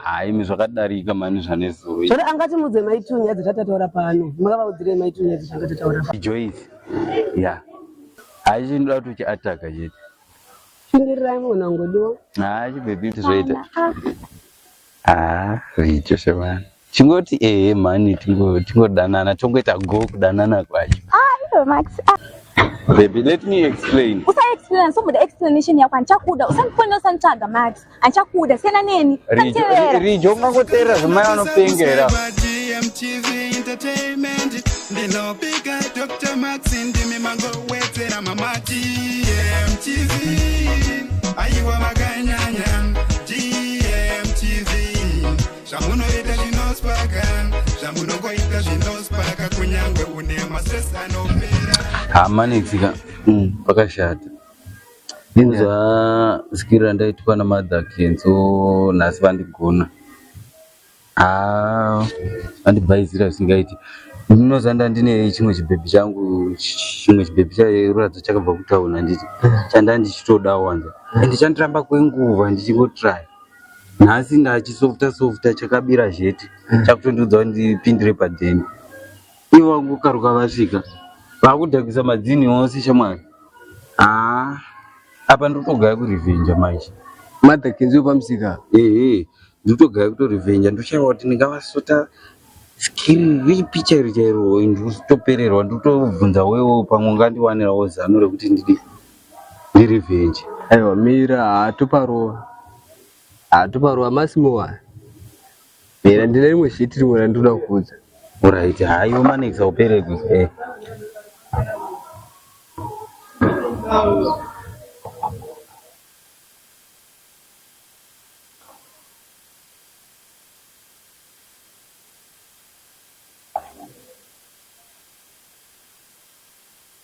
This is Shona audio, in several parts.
Haa imi zvakadarika mani zvanezuro. Zvino angati mudze maitunya dzatataura pano. Makavaudzire maitunya dzatataura pano. Joyce. Yeah. Haa chinoda kuti uchi attack chete. Shingirirai mwana wangu do. Haa chibhebhi zvoita. Haa, richo shemani. chingoti ehe mhani tingodanana tongoita go kudanana kwacho ah, max ah. Baby, let me explain. Usa explain, so muda explanation yako anchakuda. Usandifonera usanitsvaga Max. Anchakuda siyana neni. Rijo, Rijo ungangoteera zvimai vanopengera. DMTV Entertainment. Ndinopika Dr. Max ndimi mangowedzera mama DMTV. Aiwa makanyanya. zvamunoita zvinospaka zvamunongoita zvinospaka kunyange une mastress anopera hamanetsika mm, pakashata ndinzwa zikiro randaitwa namadha kenzo nhasi vandigona haa vandibhaizira zvisingaiti ndinozanda ndine chimwe chibhebhi changu chimwe chibhebhi chairuradzo chakabva kutauna nditi chanda ndichitodawo wanza ende chandiramba kwenguva ndichingotraya nhasi ndachisofta softa chakabira zvete chakutondiudza kuti ndipindire padheni ivo vangokaruka vasvika vakudhakisa madzini ose shamwari haa apa ndotogaya kurevhenja manje madhakinzi wepamusika ehe ndotogaya kutorevenja ndoshaiwa kuti ndingavasota skiri ripi chairo chairo ndotopererwa ndotobvunza wewo pamwe ungandiwanirawo zano rekuti ndidi Ndi revenge. Aiwa mira haatu parova. Haatu parova masimowa. Mira ndine rimwe shit rimwe randinoda kukuudza. Alright, hayo manekisa upere ku. Eh.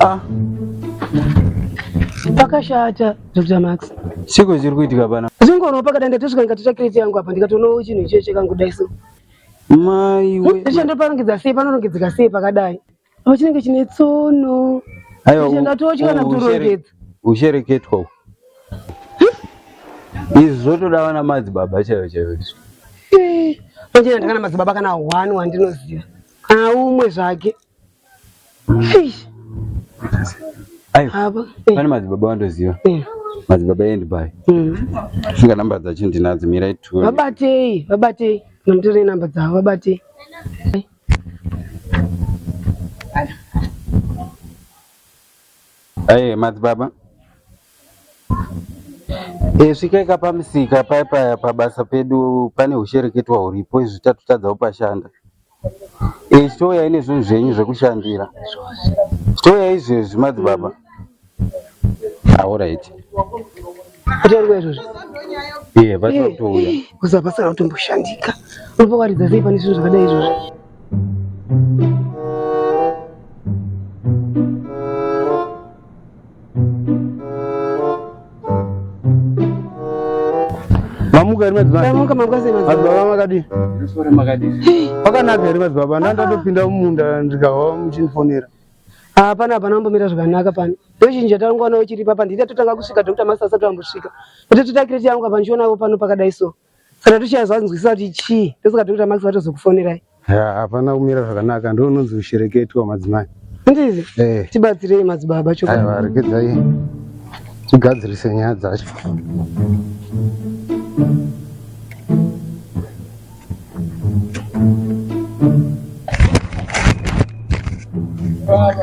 Ah. Pakashata Dr. Max. Siko zviri kuitika pana. Zvingono pakadanda tosvika ndikatotsva kireti yangu apa ndikatoona chinhu icho chekangudai so. Mai we. Ndicho ndoparongedza sei panorongedzeka sei pakadai. Apa chinenge chine tsono. Ayo. Ndicho ndatotya kana kutorongedza. Ushereketwa. Izvi zvotoda vana madzibaba chaivo chaivo. Eh. Manje ndakana madzibaba kana one wandinoziva. Haa umwe zvake. Fish. Ayo. Haba. Eh. Pane madzibaba wandoziva. Eh. Madzibaba endi bai. Mm. Singa number dzacho ndinadzo mira itu. Vabatei, vabatei. Nomtore number dzavo vabatei. Ayo madzibaba. E, svikaika pamisika paya paya pabasa pedu pane hushereketwa huripo izvi tatotadzawo pashanda e, chitouya ine zvinhu zvenyu zvekushandira chitouya izvezvi madzibaba aorit kutorwa izvozvo iye vatotouya kuzabasa kana kutomboshandika unopa waridza sei pane zvinhu zvakadai izvozvo mamuka here madzibaba makadii pakanaka here madzibaba ndandatopinda mumunda ndikahwa muchindifonera hapana hapana ambomira zvakanaka pano ndozhinji yatangoona uchiripa pandiri yatotanga kusvika doctor masta asati ambosvika kuti totakireti yangu apa ndichionavo pano pakadai so kana tichazvanzwisisa kuti chii ndosaka tiri kuita max vatozokufonerai hapana kumira zvakanaka ndo unonzi kushereketwa madzimai ndizi eh. tibatsirei madzibaba choarekedzai tigadzirise nyaya dzacho Baba.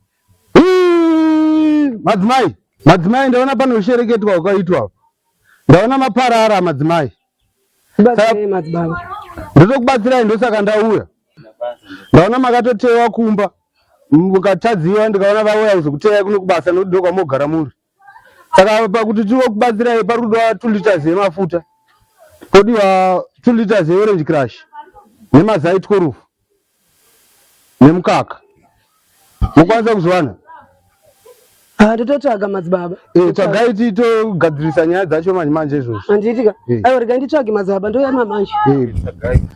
Madzimai, madzimai ndaona panoshereketwa kwakaitwa. Ndaona maparara madzimai. Batsirai madzibaba. Ndotokubatsirai ndosaka ndauya. Ndaona makatotewa kumba. Mukatadziwa ndikaona vauya kuzokuteyai kuno kubasa nekuti ndokwamogara muri. saka pakuti tivokubatsirai pari kudiwa two liters yemafuta podiwa two liters yeorange crush nemazai tikorufu nemukaka mokwanisa kuzviwana Ah, ndototsvaga madzibaba Eh, tsvagai titogadzirisa nyaya dzacho manje manje izvozvo handiitika Eh. aiwa rega nditsvage madzibaba ndouya mamanje Eh,